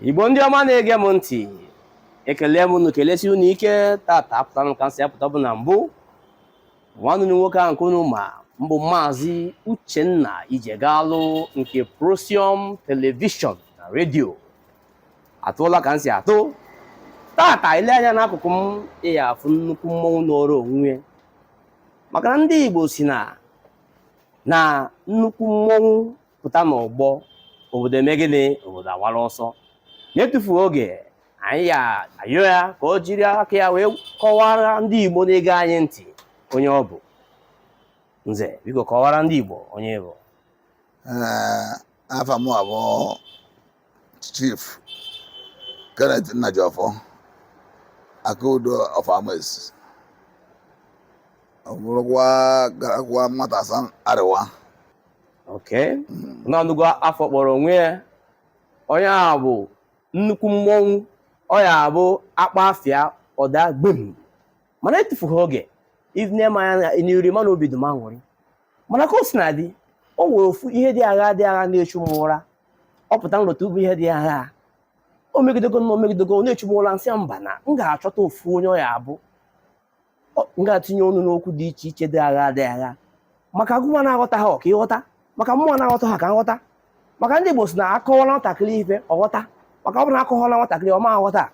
igbo ndị ọma na-ege m ntị ekelee m unu kelesi unu ike tata apụtara m ka m si apụta bụ na m bụ nwanne nwoke ahụ nke unu ma m bụ maazị uchenna ijegalụ nke prosium telivishọn na redio atụọla ka m si atụ tata i lee anya n'akụkụ m ị ya afụ nnukwu mmọnwụ nọrọ onwe ya maka na ndị igbo sị na na nnukwu mmọnwụ pụta n'ọgbọ obodo eme gịnị obodo awara ọsọ na-etufughị oge anyị ya ayọ ya ka o jiri aka ya wee kọwara ndị Igbo na-ege anyị ntị onye ọ bụ nze biko kọwara ndị Igbo onye ị bụ afa m abụ Chief Kenneth Nnajiọfọ Akaudo of Amesi ọ bụrụkwa Garkuwan Matasan Arewa Okay. unu anụgo afa ọ kpọrọ onwe ya onye a bụ nnukwu mmọnwụ onye a bụ a kpọọ afa ya ọ daa gbem mana etufughị oge i nee m anya n'iru ị ma na obi dị m aṅụrị mana ka o sina dị o nwere ofu ihe dị agha dị agha na-echu m ụra ọ pụta m rota ụmụ ihe dị agha o megidego na o megidego na-echu m ụra m sị mba na m ga-achọta ofu onye ọ ya abụ Ọ- m ga-etinye ọnụ n'okwu dị iche iche dị agha dị agha maka gịwa na-aghọta ha ka ị ghọta maka mụwa na-aghọta ha ka m ghọta maka ndị Igbo sị na a kọwala nwatakịrị ife ọ ghọta maka ọ bụrụ na akọwala nwatakịrị ọ ma aghọta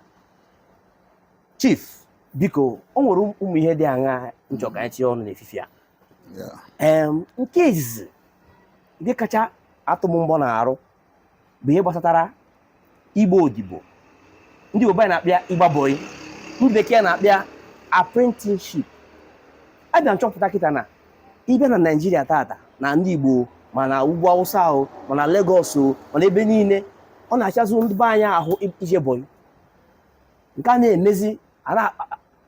chief biko o nwere ụmụ ihe dị aṅa m chọ ka anyị tinye ọnụ n'efifie a nke izizi nke kacha atụ m mbọ n'arụ bụ ihe gbasatara ịgba odibo ndị igbo be anyị na-akpọ ya ịgba bọyị ndị bekee na-akpọ ya apprenticeship abịa m chọpụta kịta na ị bịa na naijiria tata na ndị igbo ma na ugwu awụsa o ma na legọs o ma na ebe niile ọ na-achazụ ndị be anyị ahụ ije bọyị nke a na-emezi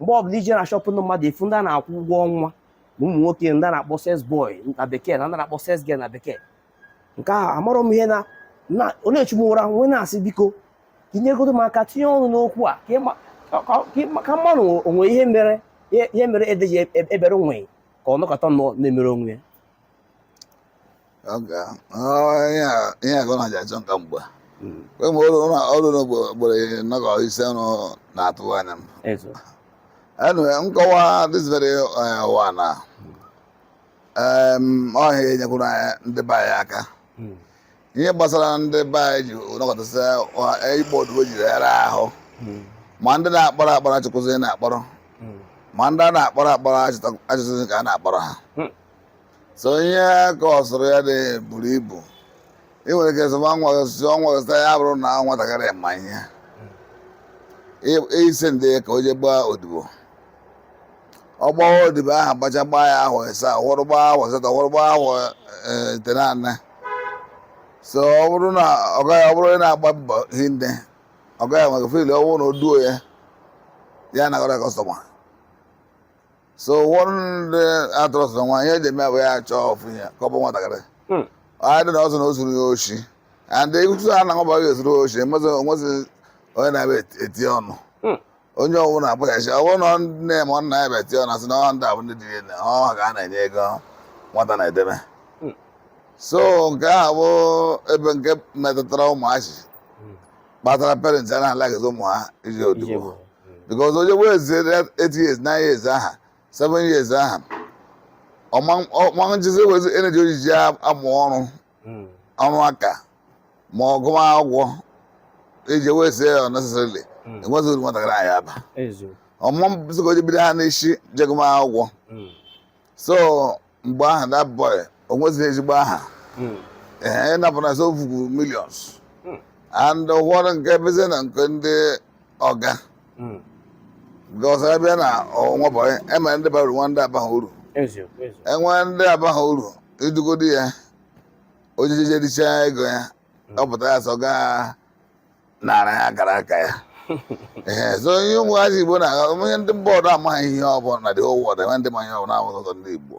mgbe ọbụla i jee na shọpụ ndị mmadụ ị fụ ndị a na-akwụ ụgwọ ọnwa na ụmụ nwoke ndị a na-akpọ sales boy na bekee na ndị a na-akpọ sales girl na bekee nke ahụ amarọ m ihe na na ọ na-echu m ụra m wee na-asị biko ka i nyegodu m aka tinye ọnụ n'okwu a ka ịma- ka- ka- ka ịma- ka m manụ o nwe ihe mere ihe ihe mere ede ji ebere nwịị ka ọ nọkata nọ na-emere onwe ya ihe agụ na achọ nka mgbe hmm. kwe ma ọrụ n'ogboro nọgọ ise ọrụ na-atụ anya m anyway m kọwaa this very uh, one na um, ọ ya enyekwuru ndị be anyị aka hmm. ihe gbasara ndị be anyị ji nọkata sị uh, ịgba odibo jiri ara ahụ hmm. ma ndị na-akpọrọ akpọrọ achịkwụzi na-akpọrọ ma ndị a na-akpọrọ akpọrọ achịtụzi ka a na-akpọrọ ha so ihe a kọsụrụ ya dị buru ibu ị nwere ike sịwa nwa gị sị ọnwa gị sị ya bụrụ na nwatakịrị ma ihe Ị- ị sị ndị ka o jee gbaa odibo ọ gbawa odibo ahụ gbacha gbaa ya ahọ ịsaa ụfọdụ gbaa ahọ asatọ ụfọdụ gbaa ahọ eh, itenaanị so ọ bụrụ na ọ gaghị ọ bụrụ na ị na-agba mbọ hinne ọ gaghị maka fil ọ bụrụ na o duo ya ya anagara kọstọma so ụfọdụ ndị atụrụsị na nwa ihe eji eme ya bụ ya chọọ ofu ihe ka o bo nwatakịrị Hmm. either na ọ sị na o zuru ya oshi and ịtụ a na bọyị zuru oshi emezi onwezi onye na-abịa eti- eti ọnụ Hmm. onye ọ wụ na ebo ya oshi ọ bụrụ na ọ nne ma ọ nna ya bịa eti ọnụ asị na ọ ndị a bụ ndị dị na ọ ha ka a na-enye ego nwata na-edebe Hmm. so nke ahụ bụ ebe nke metụtara ụmụazị kpatara parents ana-allowghịzi ụmụ ha ije odibo Ijebo. because o jee wastie 8 years 9 years aha 7 years aha ọ ma njizi nwezi energy o ji eji amụ ọrụ Mm. ọrụ aka ma ọ gụwa akwụkwọ i jee wastie ya unnecessarily Mm. enweghị uru nwatakịrị ya aba Eziokwu. ọ mma bụzi ka o ji bido ha n'isi jee gụma akwụkwọ Mm. so mgbe aha that boy o nwezighị ezigbo aha hmm. ee ịnapụna so vugo millions hmm. and ụfọdụ nke bezi na nke ndị ọga hmm. because abịa na nwa bọyị e nwere ndị bara uru nwee ndị abaghị uru enwe ndị abaghị uru idugodi ya o jije richa ego ya ọ pụta ya sị ọga nara ya akara aka ya ee so ihe ụmụazị igbo na onye ndị mba ọdọ amaghị ihe ọ bụ na the whole world enwe ndị ma ihe ọ bụ na ọ sọ ndị igbo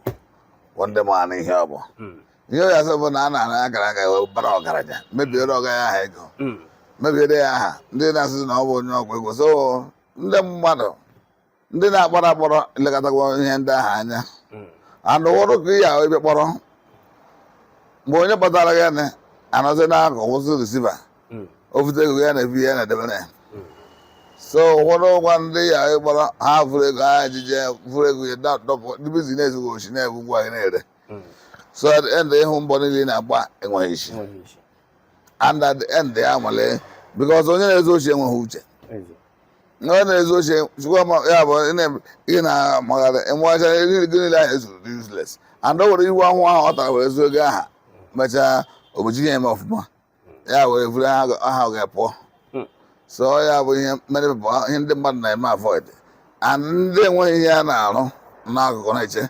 bụ ndị manụ ihe ọ bụ Mm. ihe ọ ya asị bụ na a nara ya akara aka ya wee bara ọgaranya mebiere ọga ya aha ego Mm. mebiere ya aha ndị na-asịzi na ọ bụ onye ọgwụ ego so ndị mmadụ ndị na-akpọrọ akpọrọ elekọtago ihe ndị ahụ anya mm. and ụfọdụ ka ihe ahụ ebe kpọrọ mgbe onye kpọtara gị na anọzi n'akụkụ si risiva mm. o vute ego ya na-ebu ya na-edebere ya mm. so ụfọdụ ụgwa ndị ya kpọrọ ha vuru ego ha ejije vuru ego ya dọpụ ndị bizines gị oshi na-ebu ngwa gị na-ere so at the end ị hụ mbọ niile ị na-agba enweghị isi and at the end ya nwale because onye na-ezu oshi enweghị uche na ọ na-ezu oshi chukwa ma ya bụ ị na- ị na-amagharị i meghachaa ego niile ahụ i zuru dị useless and o were iwe ahụhụ ọ tara were zuo ego aha mechaa obochi ya eme ọfụma ya were vuru aha ga- aha ọga pụọ Hmm. so ọ ya bụ ihe mere bụ ihe ndị mmadụ na-eme avoid and ndị enweghị ihe a na-arụ n'akụkụ na-eche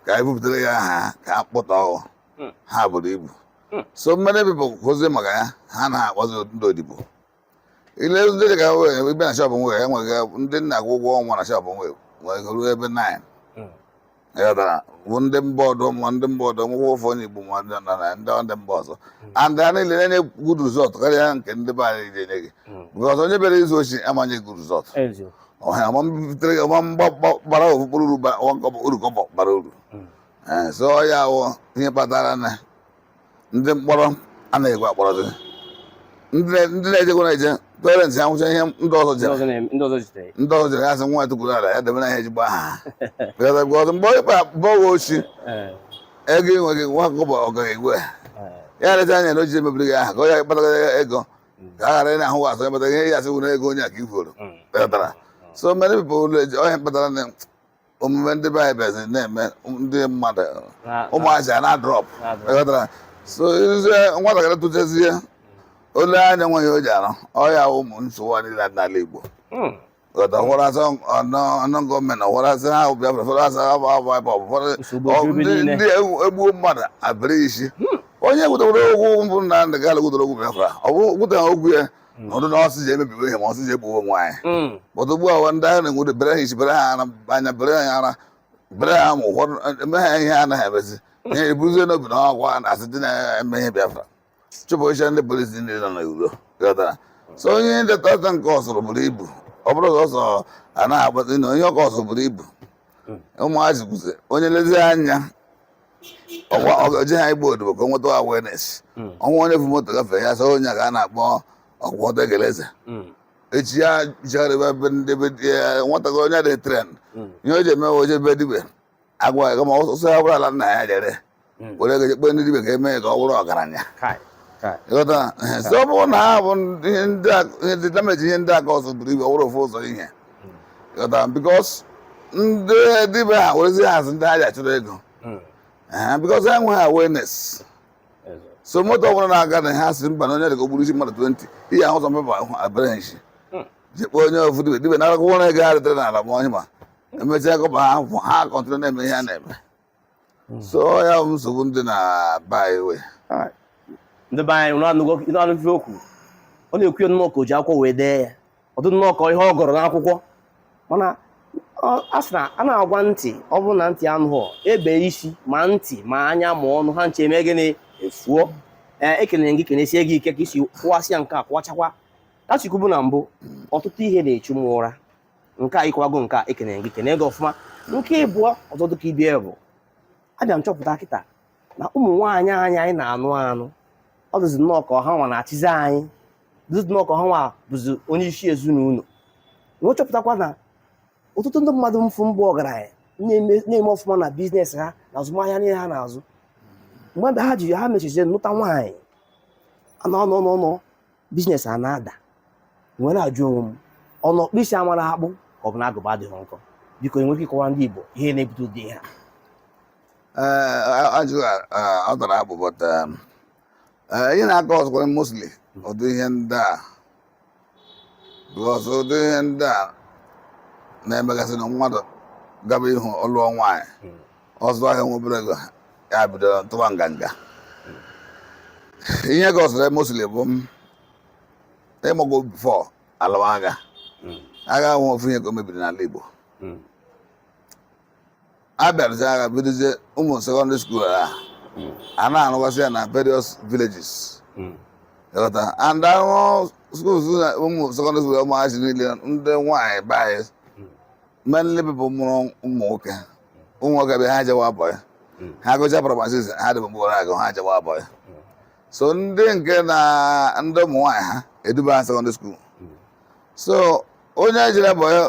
ka anyị bupụtara ya aha ha ka a kpụta ọghụ Hmm. ha buru ibu Hmm. so many people wụzi maka ya ha na-akpọzi ndị odibo ile ndị dị ka wee ibe na shọpụ nwere enweghị ndị m na-akwụ ụgwọ ọnwa na shọpụ nwere nwere ruo ebe 9 Mm. ịghọtara bụ ndị mba ọdụ ma ndị mba ọdụ nwụkwọ ofu onye Igbo ma ndị nọ na ndị ndị mba ọzọ and ha niile na-enye good result karịa nke ndị be anyị ji enye gị Mm. because onye bịara izu oshi ama nye good result eziokwu ọha ọma mbitere gị ọma mgba- gba- gbara ofu mkpụrụ uru ba- nwa kọbọ uru kọbọ bara uru Mm. Eh, so ọ ya wụ ihe kpatara na ndị mkpọrọ anaghị ekwe akpọrọzi ndị na- ndị na-ejekwa na-eje parents ya nwụcha ihe ndị ọzọ ndị jere ọzọ na-eme- ndị ọzọ jitere ndị ọzọ jere asị nwa tukwuru ala ya debe na ihe ezigbo aha Because of God, mgbe ịkpa bọghị oshi Eh, ego i nweghị nwa kọbọ ọgọ egwe eh, ya lecha anya na o ji emebiri gị aha ka ọ ya kpatara ya ego ka a ghara ị na-ahụ wa asọ ya kpatara ihe ya asị wuru ego onye a ka i kwuru mm. kpatara so many people will- onye kpatara na omume ndị be anyị bịazi na-eme ndị mmadụ Na- ụmụazị a na-adrọp na-adrọp. ịghọtara so izie nwatakịrị tụtezie o lee anya nweghị o ji arụ ọ ya wụ nsogbu a niile dị n'ala Igbo Hmm. ghọta ụfọdụ asị unknown gunmen ụfọdụ asị ha Biafra ụfọdụ asị ha bụ Ebube Agụ ụfọdụ Nsogbu ọ- ebe ndị niile. ndị egbu- egbuo mmadụ e bere isi onye butere okwu bụ Nnamdị Kanu butere okwu Biafra ọ bụ butere okwu ya Mm. ọdụ na ọ sị jee mebiwe ihe ma ọ sị jee gbuwe onwe anyị mm. but ugbu a ndị anyị na-enwere bere ha isi bere ha ara anya bere ha ara bere ha ma ụfọdụ eme ha ihe anaghị emezi mm. ihe ebuzie n'obi na ọgwa na asị ndị na-eme ihe Biafra chụpụsịa ndị polisi ndị nọ n'iro ghọtara so onye ndeta ọta nke o zuru buru ibu ọ bụrụ na ọsọ anaghị agbazi na onye nke o zuru buru ibu ụmụazị kwuzie onye lezie anya ọkwa ọ ga-eje ha ịgba odibo ka o nweta awareness hmm. ọ wụ onye bu moto gafee ya sị onye ka a na-akpọ ọkwa ọdọ egeleze hmm. echi ya jigharịba ebe ndị be nwatakịrị onye dị tren hmm. ihe o ji eme o je ebe dibe agwa ya kama ọ sị ya buru ala nna ya je ree were ego jekpe ndị dibe ka eme ya ka ọ bụrụ ọgaranya ịghọta ọ bụrụ na ha bụ ihe ndị damage ihe ndị aka ọzọ buru ibu ọ bụrụ ofu ụzọ ihe because ndị dibe ha werezi hazi ndị ha ji achụrụ ego because ha enweghị awareness so moto ọbụla na-aga na ha sị mba na onye dịka o gburu isi mmadụ 20 ihe ahụ ụzọ mmepe ahụ abịara nshi jikpọ onye ofu dibe dibe na-akwụkwọ na ego ha retere n'ala ma onye ma emechaa kọba ha ha continue na-eme ihe ha na-eme hmm. so ya bụ nsogbu dị na be anyị we ndị be anyị na-anụgo ife okwu ọ na-ekwu ya nnọọ ka o ji akwụkwọ wee dee ya ọ dụ nnọọ ka ihe ọ gụrụ n'akwụkwọ mana a sị na a na-agwa ntị ọ bụrụ na ntị anụghọ e bee isi ma ntị ma anya ma ọnụ ha ncha eme gịnị efuo ee ekelere m gị kenesie gị ike ka i si kọwasịa nke a kọwachakwa ka esi kwubu na mbụ ọtụtụ ihe na-echu m ụra nke a ịkọwago nke a ekene gị kene gị ọfụma nke ịbụọ ọzọ dịka ibe ya bụ abịa m chọpụta kịta na ụmụ nwaanyị anyị anyị na-anụ anụ ọ dịzi nnọọ ka ọ ha nwa na-achịzi anyị dịzi nnọọ ka ọ ha nwa bụzi onye isi ezinụlọ m wee chọpụtakwa na ọtụtụ ndị mmadụ m fụ mbụ ọgaranya na-eme ọfụma na biznes ha na azụmahịa niile ha na-azụ mgbe ha ji ha mechizie nụta nwaanyị a nọ nọ nọ nọ biznes a na-ada m wee na-ajụ onwe m ọ na ọkpụ isi amarọ akpụ ka ọ bụ na agụba adịghị nkọ biko i nwere ike ịkọwara ndị Igbo ihe na-ebute ụdị ihe a Eh, ajụjụ a, ọ tara akpụ but um, eh, ihe na-akọzụkwara mostly ụdị ihe ndị a because ụdị ihe ndị a na-emegasị na mmadụ gaba ihu ọ lụọ nwaanyị ọ zụọ ahịa nwee obere ego ya bido tụwa nganga ihe kọzịrị ya mostly bụ um ị mago bifọ a lụwa agha Mm. agha ahụ ofu ihe ka o mebiri n'ala Igbo Mm. a bịa lụsịa agha bidozie ụmụ sekọndịrị skuul a Mm. a na-arụgasị ya na various villages Mm. ị ghọta and ahụ skuul na ụmụ sekọndịrị skuul ụmụazị niile ndị nwaanyị be anyị mainly pipụl mụrụ ụmụ nwoke ụmụ nwoke bịa ha jewa bọyị hmm. ha gụcha praịmarị six ha dị mgbe ahụ agụ ha jewa bọyị hmm. so ndị nke na ndị ụmụ nwaanyị ha eduba ha sekọndịrị skuul hmm. so onye jere bọyị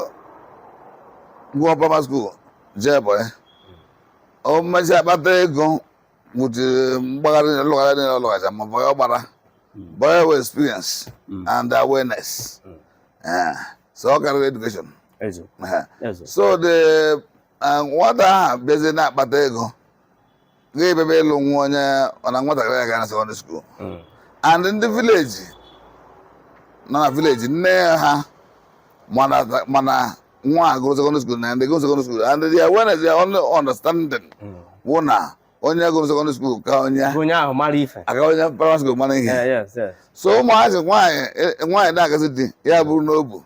gụọ praịmarị skuul jee bọyị o mechie kpata ego wutere mgbagharị na lụghara dị na lụghacha ma bọyị ọ gbara bọyị wụ experience and awareness so ọ karịrị education so the uh, nwata ahụ bịazie na-akpata ego ga-abịabe ịlụ nwunye na nwatakịrị a gara sekọndịrị skuul hmm. and ndị vileji nọ na vileji nne ha ma na nwa ha gụrụ sekọndịrị skuul na ndị gụrụ sekọndịrị skuul and their awareness their only understanding hmm. wụ na onye gụrụ sekọndịrị skuul ka onye onye ahụ mara ife ka onye praịmarị skuul mara ihe so ụmụazị nwaanyị e, nwaanyị na-agazi di ya buru n'obi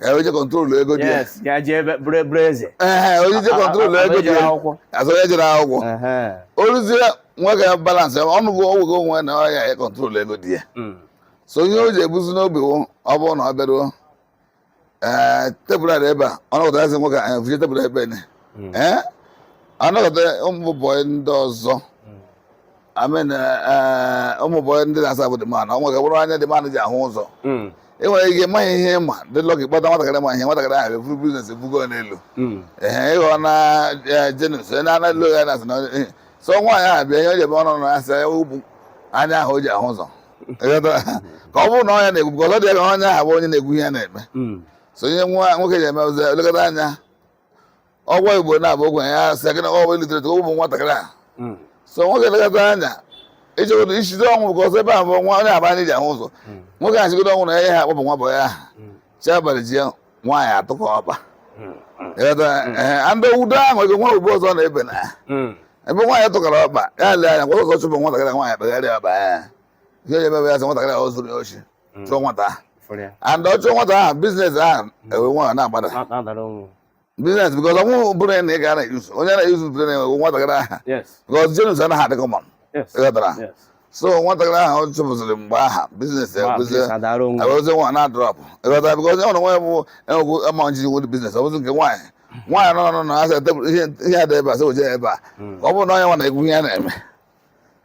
ka onye kọntrol ego di ya ka jee bụrụ eburu eze ee onye je kọntrol ego di ya as onye jere akwụkwọ o ruzie nwoke a balansị ọnụ bụ ọgwụgo onwe na ọ ya ya kọntrol ego di ya hmm. so ihe o ji ebuzi n'obi ọ bụrụ na ọ bịaruo ee tebụl a ebe a ọ nọkọta eze nwoke anyị vụje tebụl ebe ne hmm. ee ọ nọkọta ụmụ bọyị ndị ọzọ hmm. amen eh, ụmụ bọyị ndị na-asavụ the man o nwere bụrụ anya the man ji ahụ ụzọ Mm, e nwere ike maghị ihe ị ma dị lọkị kpọta nwatakịrị ma ihe nwatakịrị ahụ eburu biznes ebugo ya n'elu mm, ehe ịghọ na eh, jenus onye na anaghị ya na-asị na eh, so nwaanyị ahụ bịa ihe o ji ebe ọ nọ na-asị ya ọ bụ anya ahụ o ji ahụ ụzọ Ịghọtara? ka ọ bụrụ na ọ nya na-ekwu ka ọ dị ya ka onye ahụ bụ onye na-ekwu ihe a na-eme mm. so onye nwa nwoke ji eme ụzọ elekata anya ọgwọ igbo na-abụ ogwe ya asị gị na ọ bụ illiterate ụmụ nwatakịrị a hmm. so nwoke elekata anya ishigodo ishido ọnwụ bụ ka ọsọ ebe a bụ nwa onye aba anyị ji ahụ ụzọ hmm. nwoke a shigodo ọnwụ na ya ha akpọpụ nwa bọyị aha hmm. chi abalị ji ya nwaanyị atake over ndị udo ahụ ego nwa ugbo ọzọ na-ebe na ebe nwaanyị took over ya lee anya kwa ụzọ chụpụ nwatakịrị nwaanyị kpegharịa ọba ya ihe ya emewe ya sị nwatakịrị ahụ zuru ya oshi Mm. chụọ nwata ahụ fụrụ ya and ọ chụọ nwata ahụ biznes ahụ ewe nwa na-agbada Na- na-adara onwe biznes bikọz o nweghị ụbụrụ na ị ga na-eyuzu onye na-eyuzu ụbụrụ na ewe nwatakịrị ahụ yes bikọz jenus anaghị adị kọmọn yes ịghọtara yes so nwatakịrị ahụ ọ chụpụsịrị mgbe aha biznes Ma, ekwụzie please, adara onwe ewezie nwa na drọp ịghọtara bikọz onye ọrụ nwa ya bụ enwegwu amaneji nwere biznes ọ bụzi nke nwaanyị nwaanyị nọ nọ nọ asị tebụl ihe ihe a dị ebe a sị weje ya ebe a Mm. ọ bụrụ na ọ nya nwa na-ekwu ihe a na-eme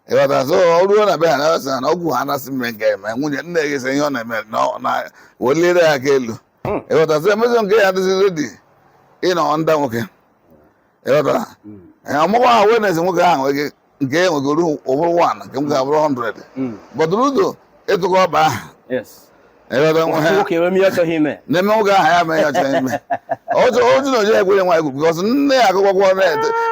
ịghọta so o ruo na be ha na-asị ha na okwu a a na-asị mme nke eme nwunye nne gị sị ihe ọ na-eme na ọ- na weliere ya aka elu Mm. ịghọta so emezi nke ya adịzi redi ịnọ ọnda nwoke ịghọta Ee, ọmụgwọ ahụ wenes nwoke ahụ nweghị nke e nwegoro ọ bụrụ wan nke nwoke abụrụ 100 Mm. bọt ọ dị redi ịtake over ahụ Yes. Ịghọta nwa ha- nwoke enwe m ihe ọ chọghị ime na-eme nwoke ahụ ya mee ya ọ chọghị ime otu otu na oji ekwere nwa egwu bikọs na ya agụọ akwụkwọ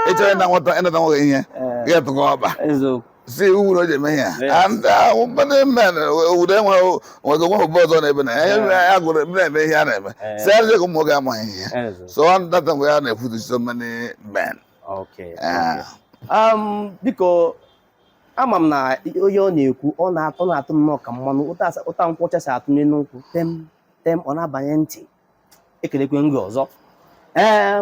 ị chọrọ ịna nwata ịnata nwoke ihe ga-etake over eziokwu si iwu na o ji eme ihe Yes. a ndị ahụ ndị men obodo enwe nwego nwe obodo ọzọ na-ebe na ya ya mere ya gụrụ ebe na-eme ihe a na-eme Eh. si ajọ ụmụ nwoke amaghị ihe eziokwu so ọ data mgbe ya na-efutu so many men okay Ah. um, biko ama m na ihe ọ na-ekwu ọ na-atụ na-atụ nnọọ ka mmanya ụtọ nkwụ ọcha si atụ n'elu nkwụ tem tem ọ na-abanye ntị ekelekwa m gị ọzọ ee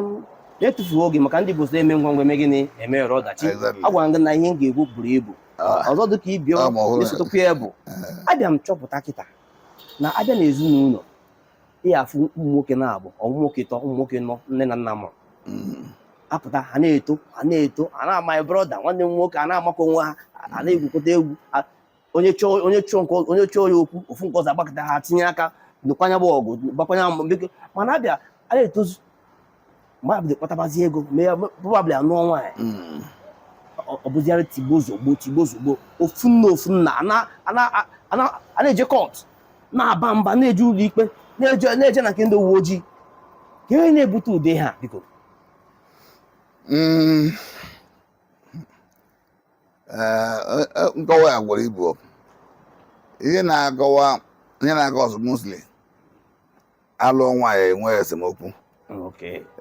na-etufuo oge maka ndị Igbo sị e mee ngwa ngwa e mee gịnị e meghara ọdachi agwara m gị na ihe m ga-ekwu buru ibu ah. ọzọ dị ka ibe ya ah, na-esotekwa ya bụ eh. abịa m chọpụta kịta na abịa na ezinụlọ ị ya-afụ ụmụ nwoke naabọ ụmụ nwoke ịtọ ụmụ nwoke ịnọ nne na nna mụrụ mm. apụta ha na-eto ha na-eto a na- maị brọda nwanne m nwoke a na-amakọ onwe ha a na-egwukọta egwu onye chọọ onye chọọ nke onye chọọ ya okwu ofu nke ọzọ agbakọta ha tinye aka nụkwa nya bụ ọgụ gbakwa nya mbọ mana a bịa na-etozu mgbe a bido kpatabazi ego mee ya probably anụọ nwaanyị mm. ọ bụziara tigbo zogbo tigbo zogbo ofu nna ofu nna a na-eje court na-aba mba na-eje ụlọ ikpe na-eje na nke ndị uwe ojii kee ihe na-ebute ụdị ihe a biko mm. eh, eh, eh, nkọwa ya buru ibu ihe na-akọwa ihe na-akọsụ mostly alụọ nwaanyị enwe esemokwu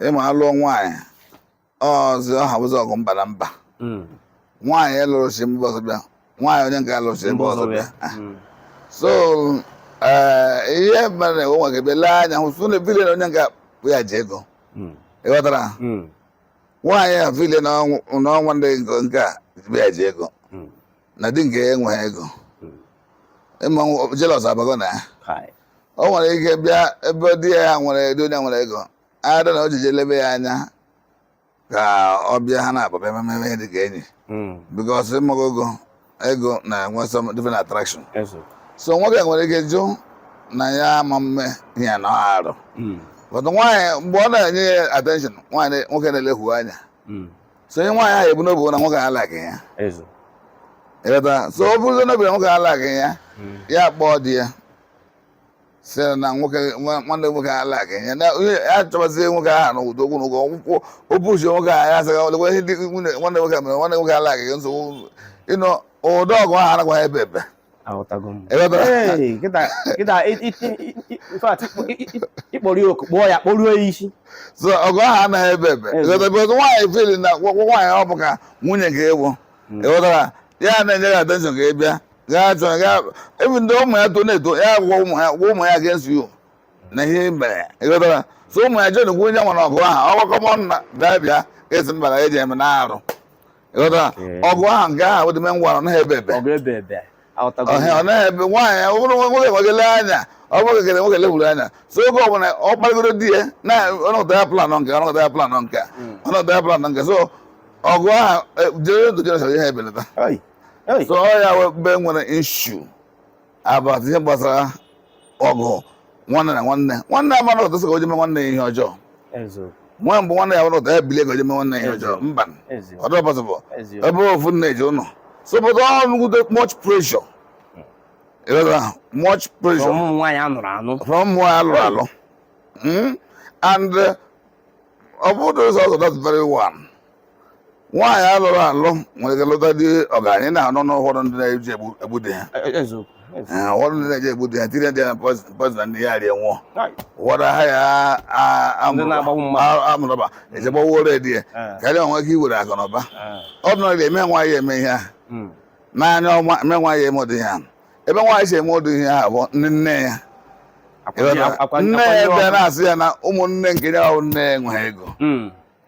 ịma alụọ nwaanyị ọzi ọha bụzi ọgụ mba na mba hmm. nwaanyị a lụrụ si mba ọzọ bịa nwaanyị onye nke a lụrụ si mba ọzọ bịa ah. hmm. so eh, ihe mere na o nwere ike bịa lee anya hụ sụ na-efeel na onye nke a bụ ya ji ego hmm. ịghọtara nwaanyị a feel na ọ nwanne di nke a bụ ya ji ego na di nke ya enweghị ego ịma jealous abago na ya Kai. o nwere ike bịa ebe di ya nwere di onye nwere ego ada na o jije lebe ya anya ka ọ bịa ha na ya bịa meme ihe dị ka enyi Mm. because ịmago ego ego na-enwe some different attraction Eso. so nwoke nwere ike jụ na ya ama mme ihe a na ọ arụ Mm. but nwaanyị mgbe ọ na-enye ya attention nwaanyị nwoke na-elehu anya Mm. so ihe nwaanyị ahụ ebu n'obi na nwoke alikeghị ya ịghọta so o buruzie n'obi na nwoke alikeghị ya hmm. ya kpọọ di ya sị na nwoke nwanne nwoke alikeghị ya na ya chọbazie nwoke ahụ na ụdị okwu na ụgwọ ọkwụkwọ obuchi nwoke ahụ ya asaghị ọlekwa ihe dị nwanne nwoke mere nwanne nwoke alikeghị ya nsogbu you know ụdị ọgụ ahụ anakwaghị ebe ebe aghọtago m Ịghọtara? Hey, kịta kịta i- i- i- i- in fact, ịkpọ- i- i- ịkpọrọ ya oku kpọọ ya kpọruo ya isi so ọgụ ahụ anaghị ebe ebe Ebe. ịghọta because nwaanyị feel na nwa- nwa- nwaanyị ọ bụ ka nwunye ka ịwụ ịghọtara ya na-enye gị attention ka ị bịa gaa chọ gaa ebe ndị ụmụ ya to na-eto ya gwa ụmụ ya gwa ụmụ ya against you na ihe ị mere ịghọtara so ụmụ ya joinkwa onye nwere ọgụ ahụ ọgbakọ m ọnụ na bịa bịa esi mbara eji eme na arụ ịghọtara ọgụ ahụ nke ahụ dị ngwa ọ naghị ebe ebe ọ naghị ebe nwaanyị ọ bụrụ nwoke nwegele anya ọ bụrụ kekere nwoke lewuru anya so oge ọbụla ọ kparịgoro di ya na ọnọdụ ya plan nke ọnọdụ ya plan nke ọnọdụ ya plan nke so ọgụ ahụ jere dojerecha ihe ebelata so ọ ya be nwere ishu about ihe gbasara ọgụ nwanne na nwanne nwanne amara ụtọ sị ka o je mee nwanne ya ihe ọjọọ nwa mgbe nwanne ya nwere ụtọ ya bilie ka o je mee nwanne ya ihe ọjọọ mba ọ dịrọ possible ebe ofu nne ji unu so but all nwude much pressure ịghọtara much pressure from ụmụ nwaanyị alụrụ alụ from ụmụ nwaanyị alụrụ alụ and ọ bụrụ ụzọ ọzọ that's very one nwaanyị alụrụ alụ nwere ike lụta di ọgaranya na-anọ n'ụfọdụ ndị na-eji egbu di ha e, e, e, ụfọdụ ndị na-eji egbu di ha tinye di ya na poison di ya rie nwụọ ụfọdụ ahaya arm robber e je gbawo di ya ka ya nwee ike iwere akụ na ụba ọ dị nọrọ eme nwaanyị eme ihe ahụ hmm. n'anya ọma eme nwaanyị eme ụdị ihe ahụ ebe nwaanyị si eme ụdị ihe ahụ bụ ndị nne ya nne ya bịa na-asị ya na ụmụnne nke ya nne ya enweghị ego hmm.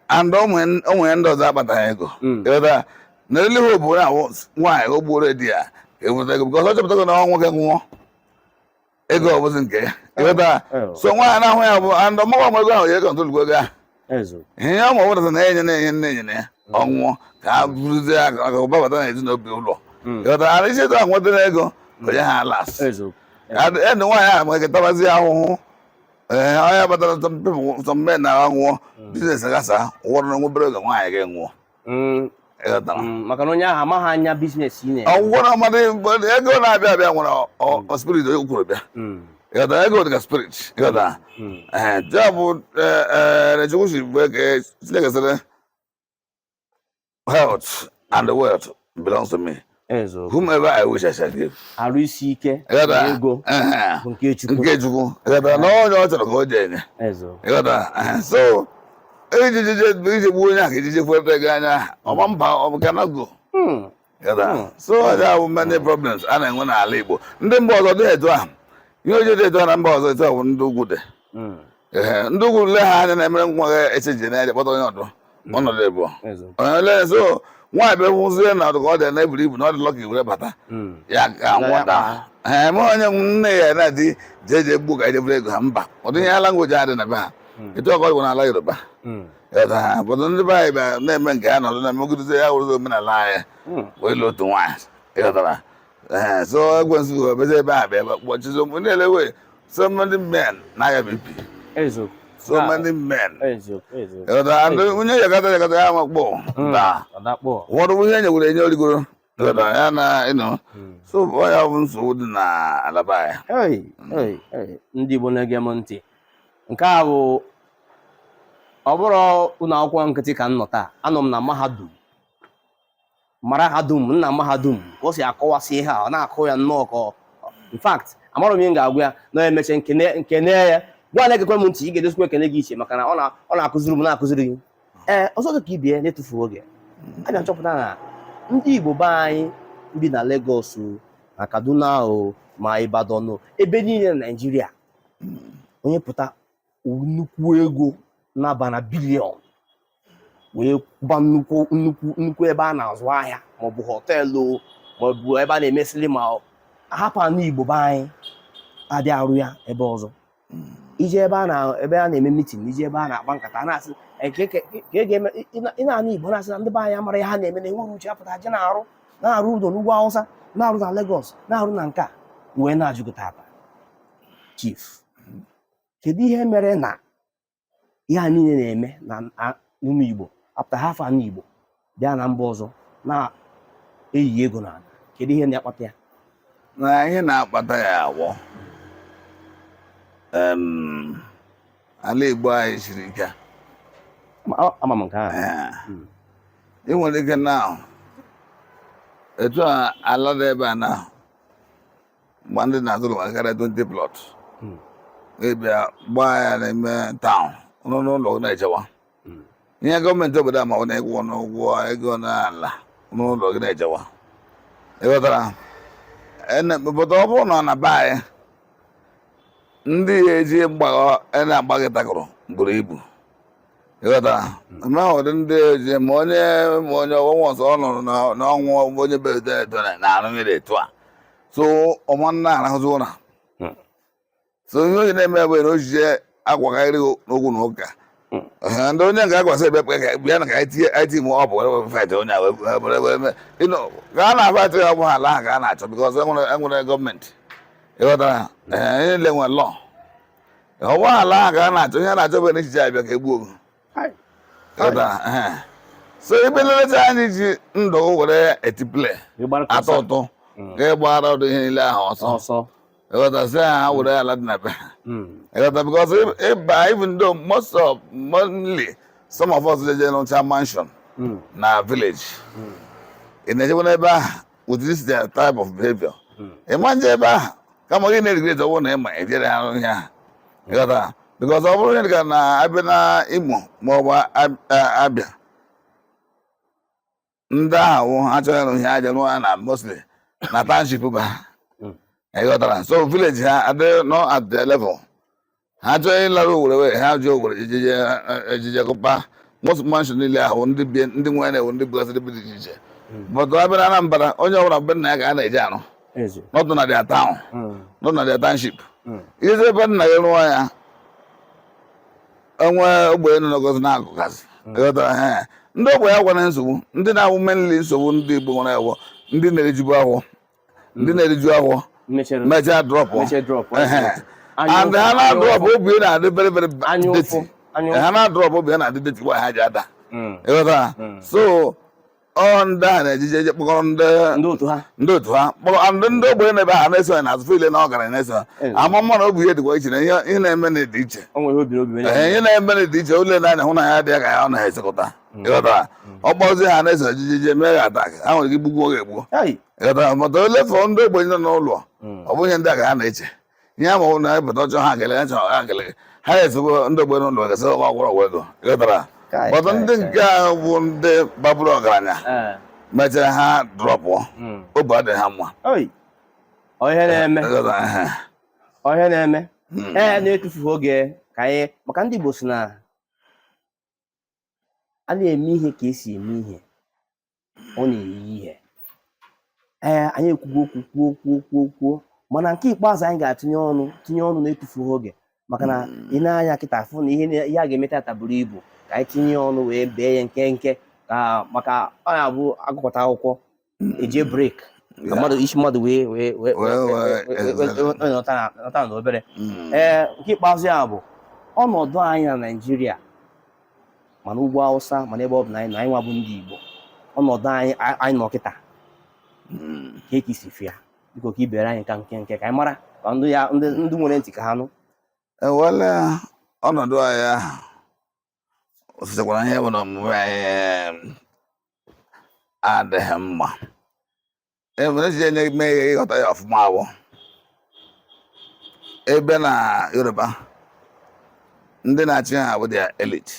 and o nwere ndị ọzọ akpataghị ego hmm. na ele ha obodo na nwaanyị o gbuoro di ya eweta ego bikọs ọ chọpụtago na nwoke nwụọ ego ọ bụzi nke ya ịghọta eh, eh. so nwaanyị na-ahụ ya bụ and ọmụwa ọmụ ego ahụ ya kọntrol ego ahụ ihe ya ma ọ bụrụ na enye na-enye nne enye nna ya hmm. ọnwụọ ka a bụrụzie aka ka ụba bata na ezinụlọ hmm. ịghọtara e si etu ahụ nwetara ego onye ha last ndị nwaanyị ahụ wee tabazi ahụhụ ee ahịa batara some men na-anwụ biznes gasa ọ wụrụ na nwa obere oge nwaanyị gị nwụọ ịghọtara Mm, maka na onye ahụ amaghị anya biznes ị na-eme ọgwụgwọ na mmadụ ego na-abịa abịa nwere ọ- ọ spirit o kwuru bịa Mm, ịghọtara ego dị ka spirit ịghọtara mm, ee ya bụ ihe Chukwu si bụ eke Chineke sịrị health and wealth belongs to me. Whomever I wish I shall give. Arụ isi ike na ego bụ nke Chukwu. Nke Chukwu. Ịghọtara na onye ọ chọrọ ka o jee nye. Ịghọtara so iji je ije gbuo onye ahụ iji je were ego anya ọma mba ọ bụ cannot go. Hmm. so ọ ya wụ many problems a na-enwe n'ala Igbo ndị mba ọzọ dị etu ahụ ihe o ji dị etu ahụ na mba ọzọ etu ahụ ndị ugwu dị hmm. ndị ugwu le ha anya na-emere nwa gị echeji na-eje kpọta onye ọdọ hmm. ọ nọdụ ịbụ onye so nwaanyị bịa hụzie na ọdụ ka ọ dị na eburu ibu na ọ dịlọ ka iwere bata ya ga nwụta ha eme onye nne ya na di jeje gbuo ka e je buru ego ha mba ụdị ihe a language adị na be ha etu ọ ka ọ wụ n'ala Yoruba obodo ndị be anyị bịara na-eme nke ha nọdụ na-emegidozi ya wụrụzi omenala anyị hmm. wee lụ otu nwaanyị ịghọtara so ekwensu obezi ebe ahụ bịa kpọchizi mgbe na-ele wee so many men na-aya BP so ah. many men ịghọtara onye yakata yakata ya makpọ ụfọdụ ihe nyegwere enye o rigoro ya na ịnọ hmm. so ọ ya bụ nsogbu dị na ala be anyị ndị Igbo na-ege m ntị nke a bụ ọ bụrọ ụlọ akwụkwọ nkịtị ka m nọ taa anọ m na mahadum mara ha dum nna mahadum ka o si akọwasị ihe a ọ na-akụ ya nnọọ ka in fact amarọ m ihe m ga-agwa ya na m meche m kene ya gịwa na-egekwa m ntị ị ga-edosikwa ekene gị iche maka na ọ na-akụziri m na-akụziri gị ee ọzọ dị ka ibie na-etufu oge a na-achọpụta na ndị Igbo be anyị bi na Lagos o na Kaduna o ma Ibadan o ebe niile na Naịjirịa onye pụta nnukwu ego na-aba na bilion wee gba nnukwu nnukwu nnukwu ebe a na-azụ ahịa maọbụ họteelụ o maọbụ ebe a na-eme silima o ahapụ ana Igbo be anyị abịa arụ ya ebe ọzọ i je ebe a na ebe a na-eme mitin i je ebe a na-akpa nkata a na-asị "Eh, ka eke- ka e ga-eme ị- ị na- ị na-anụ igbo na-asị na ndị be anyị amarọ ihe ha na-eme na enwerọ uche apụta je na-arụ na-arụ ụlọ n'ugwu awụsa na-arụ na Lagos na-arụ na nke a wee na-ajụ gị tata chief kedu ihe mere na ihe a niile na-eme na ụmụ Igbo apụta hafụ ana Igbo bịa na mba ọzọ na-eyi ego n'ana kedu ihe na-akpata ya na ihe na-akpata ya wụ ala Igbo anyị siri ike ama m nke ahụ hmm. ị nwere ike na-ahụ etu ala dị ebe a na mgbe ndị na-azụrụ m karịa 20 plọt hmm. ị bịa gbaa ya n'ime taụn nọ n'ụlọ gị na-ejewa hmm. ihe gọọmenti obodo a ma na ị kwụọnụ ụgwọ ego n'ala n'ụlọ gị na-ejewa ịghọtara obodo ọ bụrụ na ọ na be anyị ndị ya eji mgbagha na-agba gị takụrụ buru ibu ịghọta na ụdị ndị oji ma onye ma onye ọgwụgwọ ọzọ ọ nụrụ na- na ọnwụ onye berede ebere na arụ mmiri etu a so ọ ma na-arahụzi ụra Mm. so ihe onye na-eme bụ na o jeje agwakarị n'okwu na ụka Ehe, ndị onye nke agwasị ebe kpe ka bịa na ka anyị tinye anyị tinye ma ọ bụ were were faịtị onye a wee were were were mee ịnọ ka a na-afaịtị ya bụ ala ahụ ka a na-achọ bikọs enwere enwere gọọmenti ịghọtara Ehe, ihe niile nwere lọọ ọ wụ ala ahụ ka a na-achọ ihe a na-achọ bụ na sị ị bịa ka e gbuo gị Hai. Ịghọta? Ehe. so ebe nleta anyị ji ndụ were etipule Ị gbara ka atọ ọsọ. ụtọ Mm. ka ị gbara ụdị ihe niile ahụ ọsọ ọsọ ịghọta sị ha ha were ala dị na be ha Mm. ịghọta bikọs ịba even though most of mostly some of us jeje rụcha mansion Mm. na village ị na-ejekwa n'ebe ahụ with this their type of behavior hmm. ị ma-eje ebe ahụ kama gị na-erigret ọ wụ na ịma ejere ha ihe ahụ ịghọta because ọ bụrụ onye ka na abịa na Imo ma ọ bụ Abịa ndị ahụ ha chọrọ ịrụ ihe ha arụọ na mostly na township ba ịghọtara so village ha adịghị nọ at the level ha chọọ ịlara owere were ha jụọ owere ejije ejije kụpa most mansion niile ahụ ndị bie ndị nwe na-ewu ndị bụgasịrị bi dị iche iche but a bịa na anambra onye ọbụla na be nna ya ka a na-eje arụ ezi not na their town Mm. not na their township Mm. i je ebe nna gị rụọ ya o nwee ogbenye nọ n'ogozi na-agụgasị ịghọtara ha ya. ndị ogbenye agwa na nsogbu ndị na-awụ mainly nsogbu ndị igbo nwere a wụ ndị na-erijubu afọ ndị na-eriju afọ mechere mechaa drop mechere drop and ha na-adrop obi na-adị very very Anya dirty ụfụ, anya ụfụ. ha na-adrop obi na-adị dirty kwa ha ji ada ịghọtara so ọ ndị a na-ejije eje kpọkọrọ ndị ndị otu ha ndị otu ha kpọrọ and ndị ogbenye na be ha na-eso ya n'azụ feel na ọgaranya na-eso ha Eh. ama mma na obi ihe dịkwa iche na ihe ihe na-eme na dị iche o nwere obi n'obi onye Ee, ihe na-eme na dị iche ole na-anya hụ na ya dị ya ka ya ọ na-esekọta ịghọtara ọ kpọzi ha na-eso ejije je mee ha attack ha nwere ike igbugbu oge egbuo Ai, mata ole fọ ndị ogbenye nọ n'ụlọ hmm. ọ bụ ihe ndị a ka ha na-eche ihe ama na ebụta ọjọọ ha gele chọ ha gele ha ezigbo ndị ogbenye n'ụlọ gasị ọgwụ ọgwụrụ ọgwụ ego ịghọtara but ndị nke ahụ bụ ndị baburu ọgaranya eh. mechara ha drop hmm. obi adịghị ha mma ọ ihe na-eme ọ ihe na-eme hmm. ee eh, na-etufughị oge ka anyị maka ndị Igbo si na a na-eme ihe ka e si eme ihe ọ na-eyi ihe ee anyị ekwugo okwu kwuo kwuo kwuo kwuo mana nke ikpeazụ anyị ga-atinye ọnụ tinye ọnụ na-etufughị oge maka na hmm. i nee anya kịta fụ na ihe ihe a ga-eme tata buru ibu ka anyị tinye ọnụ wee bee ya nkenke ka maka ọ na-abụ a gụkọta akwụkwọ hmm. e jee break ka isi mmadụ wee wee wee nọta na obere ee nke ikpeazụ ya bụ ọnọdụ anyị na Naịjirịa ma n'ugwu awụsa ma n'ebe ọ bụla anyị nọ anyị nwa bụ ndị igbo ọnọdụ anyị a- anyị nọ kịta Mm. kee ka i si fụ ya biko ka i beere anyị nka nkenke ka anyị mara ka ndị ya ndị ndị nwere ntị ka ha nụ ewele ọnọdụ anyị ahụ o sitekwara ihe bụ na omume anyị adịghị mma e nwere echiche na-eme ihe ịghọta ya ọfụma awụ ebe na yoruba ndị na-achị ha bụ their elite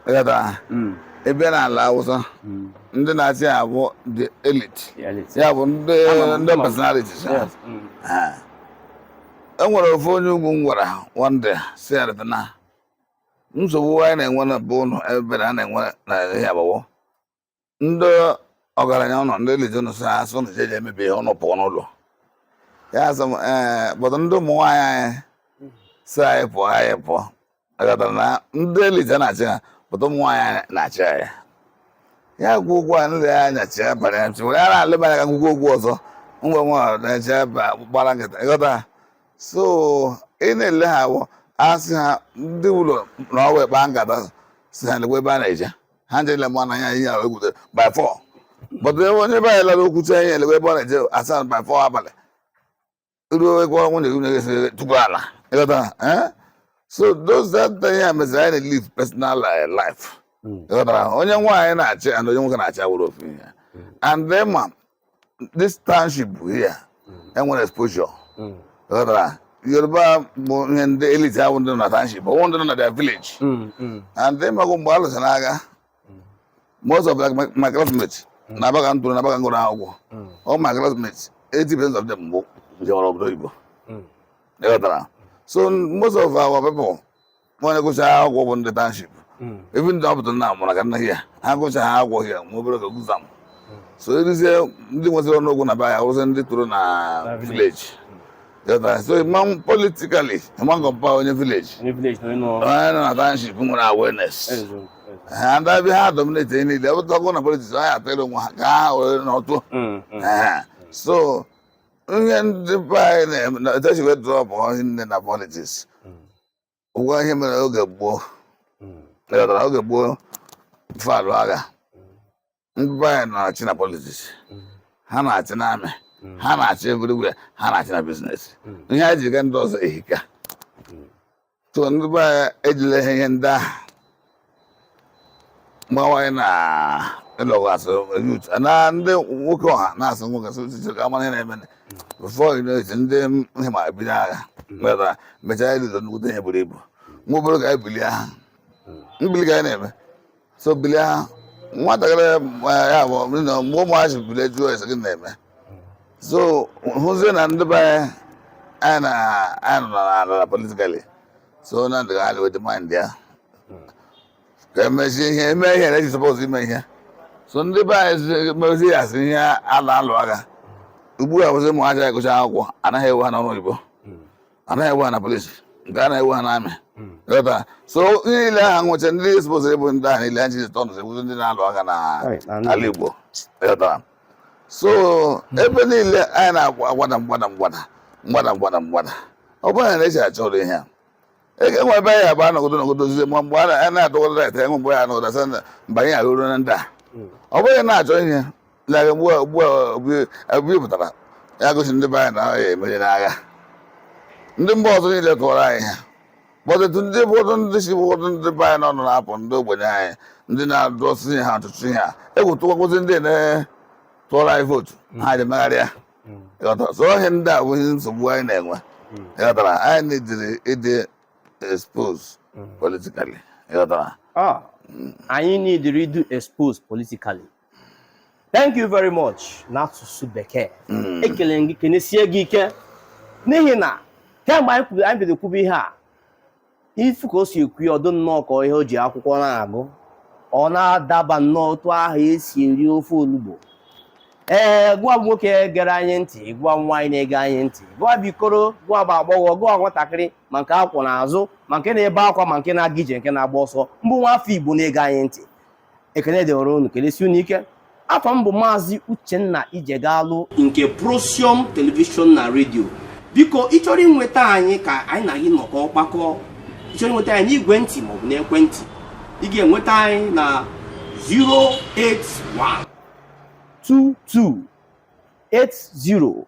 ịghọta hmm. ebe na ala awụsa hmm. ndị na-achị ha bụ the elite ya bụ ndị ndị personality hmm. e nwere ofu onye ugwu m gwara one day sị ya na nsogbu anyị na-enwe na be ụlọ ebe na a na-enwe na ya bụ ndị ọgaranya ụlọ ndị lejenu si asị ụnụ jeje emebi ihe ụnụ pụọ n'ụlọ ya sị m ee but ndị ụmụ nwaanyị anyị si anyị pụọ anyị pụọ ịghọtara na ndị elite na-achị ha but ụmụ nwaanyị anyị na-achị anyị ya kwụọ ụgwọ a nle ya anya chee banye chi were ara aleba anya ka ngwụgwọ ụgwọ ọzọ ngwa nwa na-eche ba- gbara nkịtị ịghọta so ị na-ele ha awọ asị ha ndị ụlọ na ọwa ịkpa nkata si ha lekwa ebe a na-eje ha nje niile mụ na ya ihe ahụ egwutere by four but ebe onye be anyị lara okwute anyị elewe ebe ọ na-eje a sị ya by four abalị ruo ego ọnwụ na eru na-esi tupu ala ịghọta eh? so those that thing ya meziri anyị na-live personal eh, life hmm. ịghọtara onye nwaanyị na-achị and onye nwoke na-achị awụrọ ofu ihe hmm. and then ma this township here hmm. enwere exposure hmm. ịghọtara yoruba bụ ihe ndị elite ahụ ndị nọ na township ọwụ ndị nọ na their village hmm, and then magụ mgbe a lụsara agha most of my classmates n'aba ka m toro n'aba ka m gụrụ akwụkwọ all my classmates 80 percent of them bụ jewara obodo oyibo ịghọtara so most of our people onye gụsị ha akwụkwọ bụ ndị township hmm. even though ọ pụta na amụrụ ka nna ya ha gụsị ha akwụkwọ ya ma obere ka gụza m hmm. so erizie ndị nwesịrị ọnụ okwu na be anyị wụsị ndị toro na village hmm. so ịma politically ịma compare onye village onye nọ na township nwere awareness and a bịa ha dominate ihe niile ọbụtagọ na politics ha ya atara onwe ha ka ha were n'otu so ihe ndị be anyị na-etechi wee drop hie nne na politics ụgwọ ihe mere oge gboo hmm. ịghọtara oge gboo before alụ agha hmm. ndị be anyị na-achị na politics hmm. ha na-achị na army ha na-achị everywhere ha na-achị na business ihe anyị ji ka ndị ọzọ ehika so ndị be anyị ejila ihe ndị ahụ mgbanwe na ịlọgasị youth na ndị nwoke ọha na-asụ nwoke sị uche ka amara ihe na-eme before you know it ndị nhịma ebido agha meta mechaa ịdịdo nnukwute ihe buru ibu nwa obere ka anyị bilie ha mbili ka anyị na-eme so bilie ha nwatakịrị eh, ya bụ ndị nọ- mgbe ụmụazị bilie jụọ ese gịnị na-eme so hụzie na ndị be anyị anyị na anyị nọ na ala politically so na ndụ ha dị mind ya ka emezie ihe eme ihe na eji suppose ime ihe so ndị be anyị mezi ya si ihe ala alụ agha ugbu a bụzi ụmụ anyị agụcha akwụkwọ anaghị ewe ha n'ọrụ oyibo anaghị ewe ha na police nke a na-ewe ha n'army ịghọta so ihe niile aha nwụcha ndị suppose ịbụ ndị ahụ niile anyị ji etu ọnụ abụzi ndị na-alụ agha na ala igbo ịghọtara so hmm. ebe niile anyị na-agwada mgbada mgbada mgbada mgbada mgbada ọ bụrụ na eji achọrọ ihe a enwe ebe anyị abụ anọgodo nọgodo ozizi ma mgbe a na-adọgodo ret enwe mgbe ya anọgodo asị na mba anyị arụrụ na ndị a hmm. ọ bụghị na-achọ ihe na ugbu a ugbu a obi pụtara ya gosi ndị be anyị na ya emeri n'agha ndị mba ọzọ niile tụwara anyị ha kpọtụtụ ndị ụfọdụ ndị si ụfọdụ ndị be anyị n'ọnụ na-apụ ndị ogbenye anyị ndị na-adọsị ihe ha ọtụtụ ihe a egwu tụwakwuzi ndị na-tụọrọ anyị vootu hmm. ha ji megharịa hmm. so ihe ndị a bụ ihe nsogbu anyị na-enwe hmm. ịghọtara anyị needịrị ịdị expose politically ịghọtara ah, anyị needịrị ịdị expose politically thank you very much n'asụsụ bekee mm. ekele m gị kenesie gị ike n'ihi na kemgbe anyị kwuru anyị bido kwube ihe a ị fụ ka o si ekwu ọ dị nnọọ ka ihe o ji akwụkwọ na-agụ ọ na-adaba nnọọ otu ahụ e si eri ofe olugbu ee gị wa nwoke gere anyị ntị gị wa nwaanyị na-ege anyị ntị gị wa bụ ikoro gị wa bụ agbọghọ gị wa nwatakịrị ma nke a kwọ n'azụ ma nke na-ebe akwa ma nke na-aga ije nke na-agba ọsọ ma ị bụ nwa afọ igbo na-ege anyị ntị ekele dịwara unu kelesie unu ike afa m bụ maazị uchenna ijegalụ nke procyon telivishọn na redio biko ị chọrọ inweta anyị ka anyị na gị nọkọọ kpakọọ ị chọrọ inweta anyị n'igwe ntị maọbụ n'ekwentị ị ga-enweta anyị na 081 22 80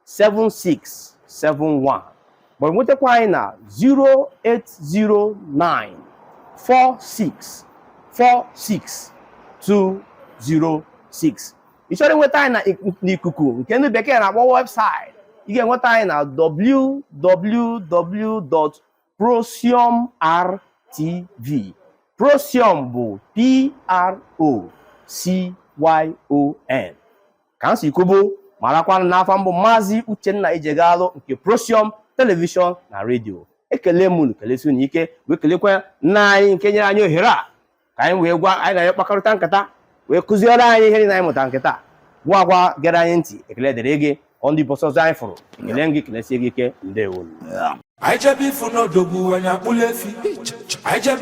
7671 ma nwetakwa anyị na 0809 46 46 206 ị chọrọ inweta anyị na ik- n'ikuku nke ndị bekee na-akpọ webụsaịtị ị ga-enweta anyị na www.procyonrtv procyon bụ p r o c y o n ka m si kwubu marakwanụ na afa m bụ maazị Uchenna Ijegalụ nke Procyon telivishọn na redio ekele m unu kelesie unu ike wee kelekwa nna anyị nke nyere anyị ohere a ka anyị wee gwa anyị na ya kpakọrịta nkata wee kụziere anyị ihe na anyị mụta kịta gị wa gị wa gere anyị ntị ekele dịrị gị ọ dị ụbọsị ọzọ anyị fụrụ ekele m gị kelesie gị ike ndewo